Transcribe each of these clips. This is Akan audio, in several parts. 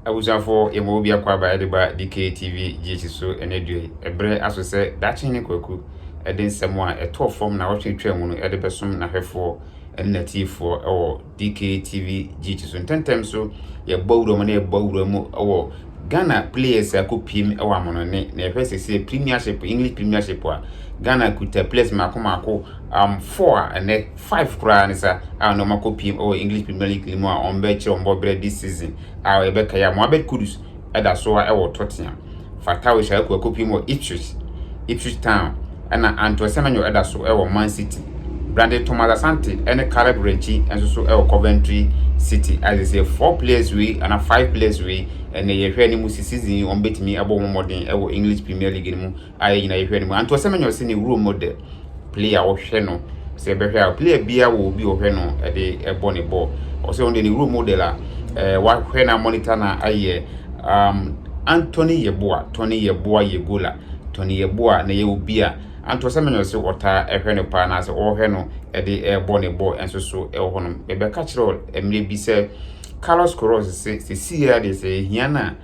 Abusuafo, yɛma wo biako aba ɛde ba DKTV GH so ɛnɛ dua yi. Ɛbrɛ aso sɛ daakye ne kwaku ɛde nsɛm a ɛtɔɔ fam na wɔtwe twaa mu no ɛde bɛsom n'ahwɛfoɔ ɛne n'atiefoɔ ɛwɔ DKTV GH so. Ntɛntɛm so yɛbɔ awura mu na yɛbɔ awura mu ɛwɔ Ghana players a kɔpiem ɛwɔ amonone na yɛhwɛ sɛsɛ premiership English premiership a Ghana kuta players mako mako um, four a ɛnɛ Five koraa ne sa a na wɔakɔ piem wɔ English Premier League no mu a wɔbɛkyerɛ wɔn bɔberɛ this season a yɛbɛkae a Mohammed Kudus da so ara wɔ Tottenham, Fatawu Shaiku akɔ piem wɔ Ipswich, Ipswich Town, ɛna Antoine Semenyo da so wɔ Man City. Brandon Thomas Asante ne Caleb Rechi nso so wɔ Coventry City. A sɛ four players wei anaa five players wei ɛnɛ yɛhwɛ ne mu si season yi wɔbɛtumi abɔ wɔn mmɔden wɔ English Premier League no mu a yɛn nyinaa yɛhwɛ no mu antoɔ sɛ manya ɔsɛ ne role model player ɔhwɛ no sɛ ɛbɛhwɛ a player biara wɔ obi ɔhwɛ no ɛde ɛbɔ ne bɔɔl ɔsɛ ɔno deɛ ne role model a ɛɛ eh, wahwɛ na monitor na ayɛ um, Anthony Yeboah Tony Yeboah yɛ gola Tony Yeboah na yɛ obi a antoɔ sɛ manya ɔsɛ ɔtaa ɛhwɛ no paa anaasɛ ɔhwɛ no ɛde ɛbɔ ne bɔɔl ɛnso so ɛwɔ hɔnom ɛbɛka kyerɛ mmerɛ bi sɛ Carlos Queiroz se sɛ sii ara deɛ sɛ ɛhia no a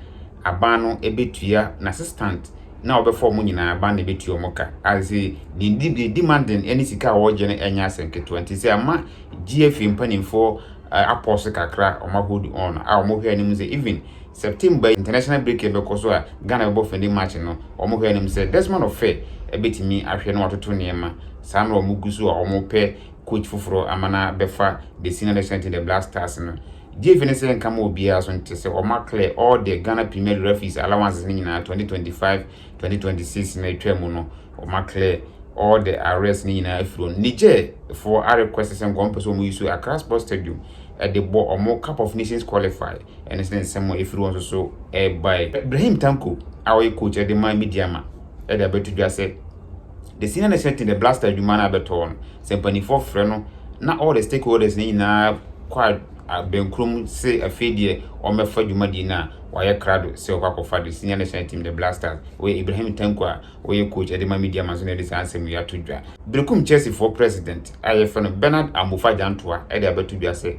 aban no betua n'assistant na ɔbɛfa wɔn nyinaa aban na ebetua wɔn ka. As I say, deɛ di deɛ di ma den ɛne sika a wɔregye no ɛnyɛ asɛm ketewa nti sɛ ama GFA mpanimfoɔ uh, apɔs kakra wɔn ahold on a wɔn hwɛ anim sɛ even September yi international break ɛbɛkɔ so a Ghana bɛbɔ fɛnde match no wɔn hwɛ anim sɛ Desmond Ofɛ ɛbɛtumi ahwɛ na watoto nneɛma saa na wɔn gu so a wɔn pɛ coach foforɔ ama na bɛfa the senior national team the Black Stars no Gyefie ne sɛ nka ma obiara so nte sɛ ɔma clear all the Ghana Premier League referees allowances no nyinaa 2025, 2026 no a atwa mu no ɔma clear all the arrears no nyinaa afiri wɔn. Niger foɔ a request sɛ nka wɔn pɛ sɛ wɔn use Accra Sports Stadium de bɔ wɔn Cup of Nations qualify ɛno nso ne nsɛm a ɛfiri wɔn nso so ɛrebae. Brahim Tanko a ɔyɛ coach de ma Midyama de abɛto dwa sɛ. The senior next meeting the blaster adwuma no abɛtɔ no sɛ mpanimfoɔ frɛ no na all the stakeholders no nyinaa kɔ abɛnkurom se afei deɛ wɔmmɛfa dwumadie no a wɔayɛ krado sɛ wɔkɔ akɔfa the senior national team the blasters wɔyɛ Ibrahim Tanko a wɔyɛ coach ɛde ma media ma nso na ɛde saa nsɛm yi ato dwa Berekum Chelseafoɔ president a yɛfrɛ no Bernard Amofa Gyantoa ɛde abɛto dwa sɛ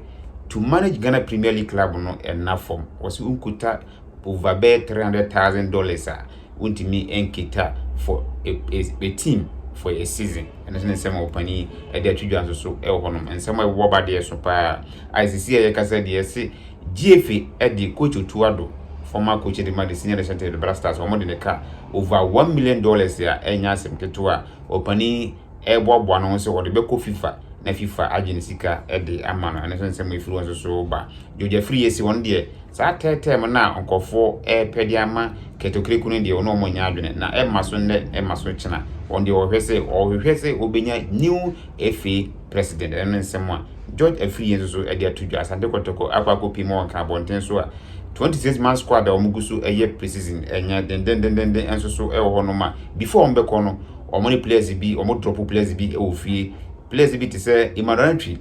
to manage Ghana Premier League club no ɛnna fam wɔse nkuta over bɛyɛ 300,000 dollars a wontumi nkita for a a a team for a season ɛno nso ne nsɛm a ɔpanin ɛde ato dwa nso so ɛwɔ hɔnom nsɛm a ɛwɔ ba deɛ so paa a sisi a yɛkasa deɛ se gfa ɛde coach otu ado former coach de ma de senior national team de black stars wɔn de ne ka over one million dollars a ɛnyɛ asɛm ketewa a ɔpanin ɛboaboa no ho sɛ ɔde bɛkɔ fifa na fifa agye ne sika ɛde ama no ɛno nso nsɛm efiri wɔn nso so ba gyogya firi yɛ si wɔn deɛ Saa tɛɛtɛɛm no a nkorɔfoɔ repɛ de ama Keto-Kreku no deɛ wɔn a wɔnnya adwene na ɛmma so nnɛ ɛmma so kyena. Wɔn deɛ wɔhwɛ sɛ wɔhwehwɛ sɛ wɔbɛnya new FA president ɛno ne nsɛm a George Afriyie nso so de ato dwa. Asante Kɔtɔkɔ akɔ akɔ pie ma wɔnka abɔnten so a 26 man squad a wɔn gu so ɛyɛ pre-season ɛnyɛ dendendendenden nso so ɛwɔ hɔ nom a before wɔn bɛkɔ no wɔn ne players bi wɔn drop players bi ɛwɔ fie. Players bi te sɛ Emmanuel Antwi,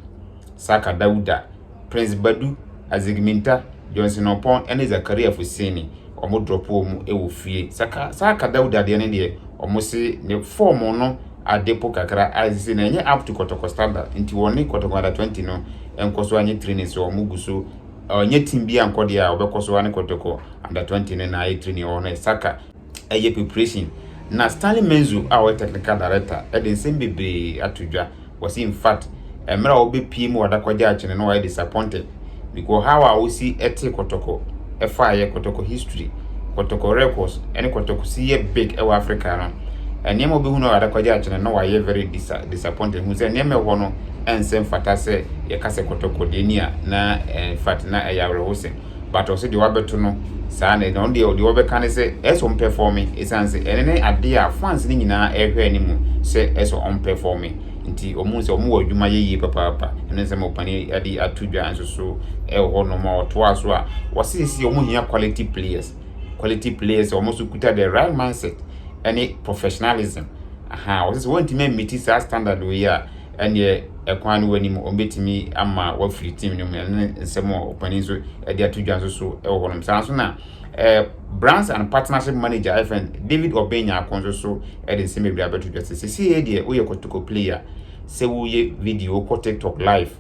Saka Dawuda, Prince Badu, Azic Minta, Johnson Oppong ne Zakaria Fuseni, wɔn drɔpoo mu wɔ fie. Saka, Saka Dauda deɛ no deɛ, wɔn se ne form no ade po kakra a ɛsɛ sɛ na ɛnyɛ up to Kɔtɔkɔ standard nti wɔne Kɔtɔkɔ Under 20 no nkɔ so anyɛ training so wɔn gu so ɔnyɛ team bi ankɔ deɛ a wɔbɛkɔ so ane Kɔtɔkɔ Under 20 no na ayɛ training wɔ hɔ no yɛ Saka ɛyɛ preparation na Stanley Menzo a ɔyɛ technical director de nsɛm bebree ato dwa wɔsi in fact mmerɛ a wɔbɛpie mu wɔadakɔgye akyene no wɔayɛ disappointed because how a wɔsi ɛte kɔtɔkɔ ɛfa yɛ kɔtɔkɔ history kɔtɔkɔ records ɛne kɔtɔkɔ si yɛ big ɛwɔ Africa no nneɛma a wɔbɛhu no wɔadakɔgye akyene no wɔayɛ very disa disappointed hu sɛ nneɛma ɛhɔ no ɛnsɛ mfata sɛ yɛka sɛ kɔtɔkɔ deɛ ni a na in fact na ɛyɛ awerɛhosɛm but ɔse deɛ wabɛto no saa na ɔno deɛ deɛ ɔbɛka ne sɛ ɛsɛ sɛ ɔmpɛfɔme ɛsiane sɛ ɛno ne adeɛ a fans no nyinaa ɛrehwɛ ne mu sɛ ɛsɛ sɛ ɔmpɛfɔme nti ɔmo sɛ ɔmo wɔ adwuma yɛ yie papaapa ɛno nsɛm ɔpani ade ato dwa nso so ɛwɔ hɔ nom a ɔtoa so a wɔse sisi ɔmo hia quality players quality players ɔmo nso kuta the right mindset ɛne professionalism aha wɔse sɛ wɔntumi amiti saa standard wei a ɛnneɛ ɛkwan no wɔ anim, wɔbɛtumi ama wafiri team no mu ɛne nsɛm a ɔpanin nso de ato dwa nso so wɔ hɔnom saa nso na eh, branch and partnership manager ɛfɛn David Obeng Nyako nso so de nsɛm bebree abɛto dwa sɛ sisi yɛ deɛ woyɛ kɔtɔkɔ player sɛ woyɛ video wokɔ tiktok live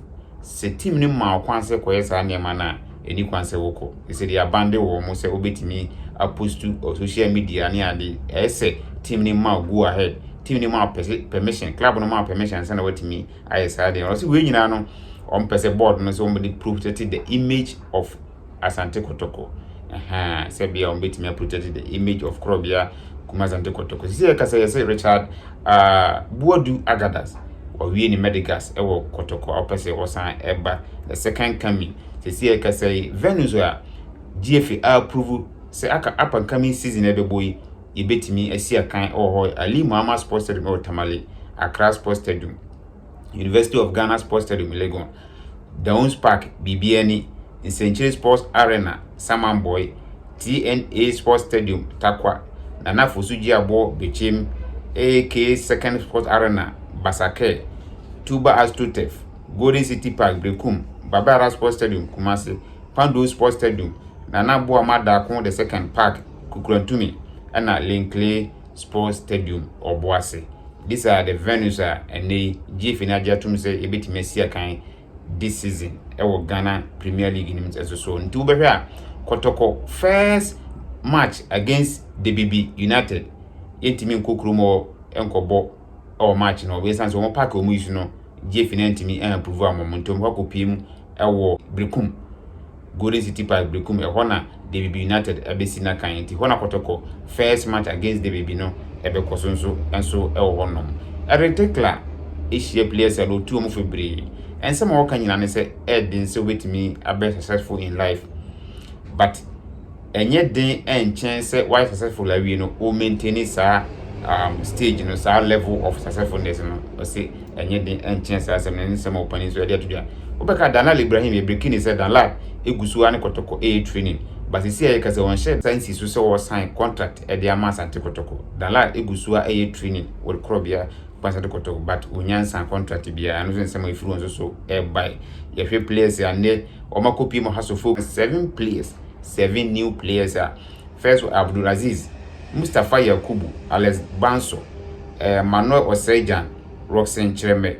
sɛ team no ma ɔkwan sɛ kɔyɛ saa nneɛma no a ɛni kwan sɛ wokɔ ɛsɛ de abande wɔ mo sɛ wobɛtumi apostu social media ne ade ɛyɛ sɛ team no ma go ahead team no ma permission club no ma permission sɛ na watumi ayɛ saa deɛ ɔsɛ wei nyinaa no wɔn pɛ sɛ board no sɛ wɔn de protect the image of Asante Kotoko ɛhɛn sɛ bia wɔn betumi protect the image of Korobea kuma Asante Kotoko sisi yɛ kasa yɛ sɛ Richard uh, Buadu Agadas wɔwie ne Medigas ɛwɔ Kotoko a wɔpɛ sɛ wɔsan ɛba the second coming sisi yɛ kasa yi venue so a GFA approve sɛ aka up and coming season ɛbɛbɔ yi yɛbɛtumi asi akan wɔ hɔ yɛ Ali Muhammad Sports Stadium wɔ Tamale, Accra Sports Stadium, University of Ghana Sports Stadium Legon, Dawns Park, Biribiani, Nsɛnkyire Sports Arena, Samanboy, TNA Sports Stadium, Tarkwa, Nana Fosu Gyeaboɔ, Bekyem, AK Second Sports Arena, Basakɛ, Tuba Astrotef, Golden City Park, Berekum, Baba Yara Sports Stadium, Kumasi, Pandow Sports Stadium, Nana Boa Madaako the Second Park, Kukurantumi na Linkley Sports Stadium wɔ Boase. These are the venues a ɛnnɛ yi GFA no agye atom sɛ yɛbɛtumi asi akan this season wɔ Ghana Premier League no mu nso so. Nti wobɛhwɛ a Kɔtɔkɔ first match against Debibi United yɛntumi nkɔ kurom hɔ nkɔbɔ wɔ match no hɔ. Ɛsiane sɛ wɔn paaki wɔn yi so no GFA no antumi anpuvu a wɔn ntom hɔ akɔpie mu wɔ Berekum. Golden City Park Berekum, ɛhɔ na Debibi United abɛsi n'akan nti hɔ na kɔtɔkɔ first match against Debibi no ɛbɛkɔ so nso nso ɛwɔ hɔ nom. Eric Tickler hyia players a na ɔtu wɔn fo bebree. Ɛnsɛm a wɔka nyinaa ne sɛ ɛyɛ den sɛ wobɛtumi abɛyɛ successful in life but ɛnyɛ den nkyɛn sɛ wayɛ successful awie no o maintain saa um, stage no saa level of successfulness no ɔse ɛnyɛ den nkyɛn saa asɛm no ne nsɛm a ɔpani nso ɛde ato dwa wobɛka danlal ibrahim yɛbreki ne sɛ danlal ɛgu so a ne kɔtɔkɔ ɛyɛ training basisi a yɛka sɛ wɔnhyɛ sa nsi so sɛ wɔsan contract ɛde ama asante kɔtɔkɔ danlal ɛgu so a ɛyɛ training wɔde korɔ bia asante kɔtɔkɔ but wɔnya nsan contract biara ɛno so nsɛm a ɛfiri wɔn so so ɛbae yɛhwɛ players a nnɛ wɔn akɔpie mu ha so fo seven players seven new players a first wɔ Abdulaziz, Mustapha Yakubu, Alex Banso, eh, Manuel Osei-Jan, Rockson Kyeremɛ,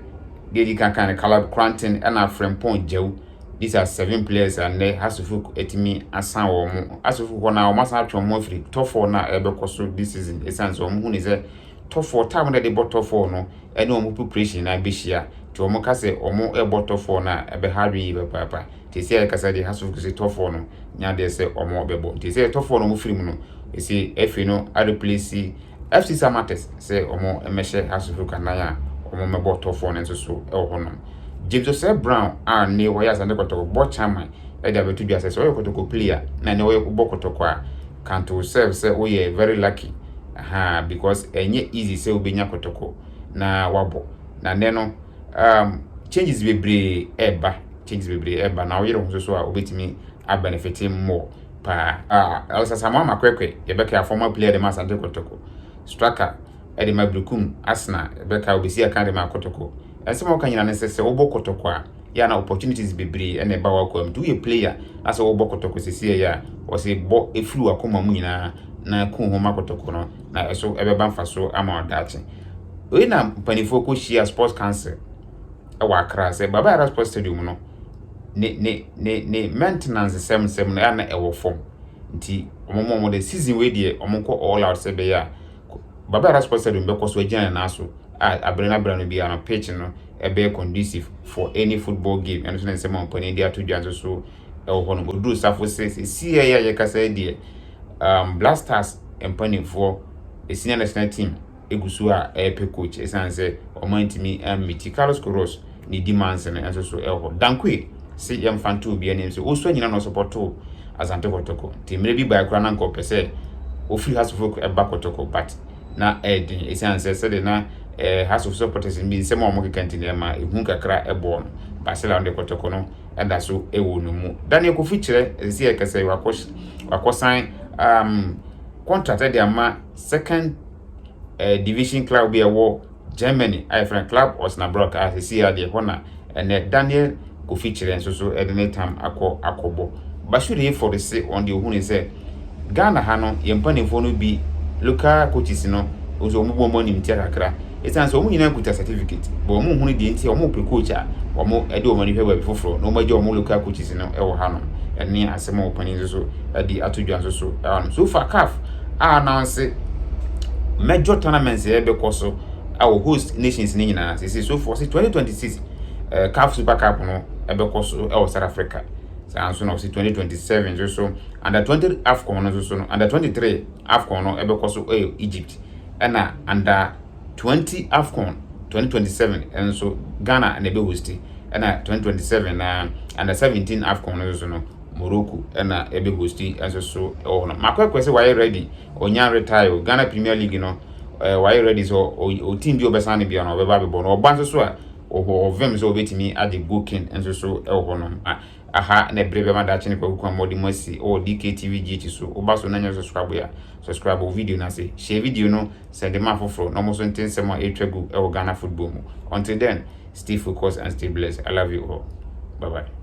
deɛ ɛdi kankan no Caleb Cranton ɛna Frimpong Djau, these are seven players a nnɛ Hasselhoff atumi asan wɔn mo. Hasselhoff hɔ no a wɔn asan atwe wɔn ho afiri top four no a ɛbɛkɔ so this season ɛsiane sɛ wɔn hu ne sɛ top four time na ɛde bɔ top four no ɛne wɔn population no abɛhyia nti wɔn ka sɛ wɔn ɛbɔ tɔfoɔ no a ɛbɛha adwene yie papaapa nti sɛ ɛkasa deɛ House of Reps sɛ tɔfoɔ no nya adeɛ sɛ wɔn ɛbɛbɔ nti sɛ tɔfoɔ no wɔn firi mu no ɛsɛ ɛfiri no areplace FC Samatex sɛ wɔn ɛmɛhyɛ House of Reps anan a wɔn ɛbɔ tɔfoɔ no nso so ɛwɔ hɔ nom James Osei Brown a ne wɔyɛ Asante Kɔtɔkɔ bɔ chairman ɛde abɛto dwa sɛ sɛ wɔyɛ kɔtɔkɔ player na ne wɔyɛ bɔ kɔtɔkɔ a count yourself sɛ woyɛ very lucky ahaa because ɛnyɛ easy sɛ wobɛnya kotoko na wabɔ na nnɛ no um, changes bebree ɛba changes bebree ɛba na woyere ho so a wobɛtumi abenefite mmɔ paa uh, Elsa Samoa Makwɛkwɛ yɛbɛka former player de ma Asante Kotoko striker ɛde ma Brikum Asena yɛbɛka obesi aka de ma Kotoko ɛnsɛm a wɔka nyina ne sɛ sɛ wobɔ Kotoko a yɛ a na opportunities bebree ɛna ɛba w'akoa mu nti woyɛ player na sɛ wɔbɔ kɔtɔkɔ sisi ɛyɛ a wɔsɛ bɔ efiri w'akoma mu nyinaa na kun ho ma kɔtɔkɔ no na ɛso ɛbɛba mfaso ama ɔdaakye wei na mpanimfoɔ kɔ hyia sports council ɛwɔ akra sɛ baba ara sports stadium no ne ne ne ne maintenance sɛm sɛm no ɛna ɛwɔ fam nti wɔn mo wɔn de season wei deɛ wɔn kɔ all out sɛ bɛyɛ a baba ara sports stadium bɛkɔ so agyina ne nan so a abere na abere no biara no pitch no ɛbɛyɛ conducive for any football game ɛno nso ne nsɛm a ɔmpanin de ato dwa nso so ɛwɔ hɔ nom ɔduru safo se sesiɛ yi a yɛkasa yi deɛ um, black stars mpanimfoɔ ɛsinia national team ɛgu so a ɛrepɛ coach ɛsiane sɛ ɔma ntumi ammiti carlos coros ne di manse no nso so ɛwɔ hɔ dankoe se yɛmfa nto obi anim sɛ ɔsua nyina na ɔsopɔtoo asante kɔtɔkɔ nti mmerɛ bi bae koraa na nka ɔpɛ sɛ ɔfiri hasofok ɛba kɔtɔkɔ but na ɛyɛ den esiane sɛ sɛdeɛ na eh, House of Supporters bi nsɛm a wɔkeka nti na ɛma ehu kakra bɔɔ no. Basila no de kɔtɔkɔ no da so wɔ ne mu. Daniel Kofi kyerɛ ɛsɛ sɛ yɛka sɛ wakɔ wakɔsan um, contract de ama second uh, division club bi a ɛwɔ Germany a yɛfrɛ no Club Osnabrück a seesei ara deɛ ɛhɔ na ɛnnɛ Daniel Kofi Kyerɛ nso so de ne tam akɔ akɔbɔ. Bashir Hayford se wɔn deɛ ɔhunui sɛ Ghana ha no yɛn mpanimfoɔ no bi local coaches no nso wɔn bu wɔn animtia kakra ɛsiane sɛ wɔn nyinaa kuta certificate but wɔn nhunu deɛ nti a wɔn pɛ coach a wɔn de wɔn ani hwɛ baabi foforɔ na wɔn agya wɔn local coaches no wɔ ha no ɛne asɛm a wɔn panin nso so adi ato dwa nso so ɛwɔ no so far CAF a na ɔse major tournaments yɛ bɛkɔ so wɔ host nations no nyinaa sese so fo ɔse 2026 eh, caf super cup no ɛbɛkɔ so wɔ south africa saa nso na ɔse 2027 nso so under 20 afcon no nso so no under 23 afcon no ɛbɛkɔ so wɔ egypt ɛna under 20 afcon 2027 nso ghana na ɛbɛhosti ɛna 2027 na under 17 afcon no nso so no Morocco na ɛbɛ hosti nso so wɔ hɔ no. Makɔ ɛkɔ sɛ wayɛ ready, ɔnya retire o. Ghana Premier League no, eh, wayɛ ready sɛ o team bi ɔbɛsan ne bia no ɔbɛba abɛbɔ no. Ɔba nso so a, ɔhɔ ɔvɛm sɛ ɔbɛtumi agye goal king nso so wɔ hɔ no. Ah, aha na ɛbere bɛma daakye ne kwaku kwan mɔde mu asi wɔ DKTV GH so. Woba so na nyɛ subscribe a, subscribe wɔ video no ase. Share video no, send ma afoforɔ na ɔmo so nte nsɛm a ɛretwa gu wɔ Ghana football mu. Until then, stay focused and stay blessed. I love you all. Bye bye.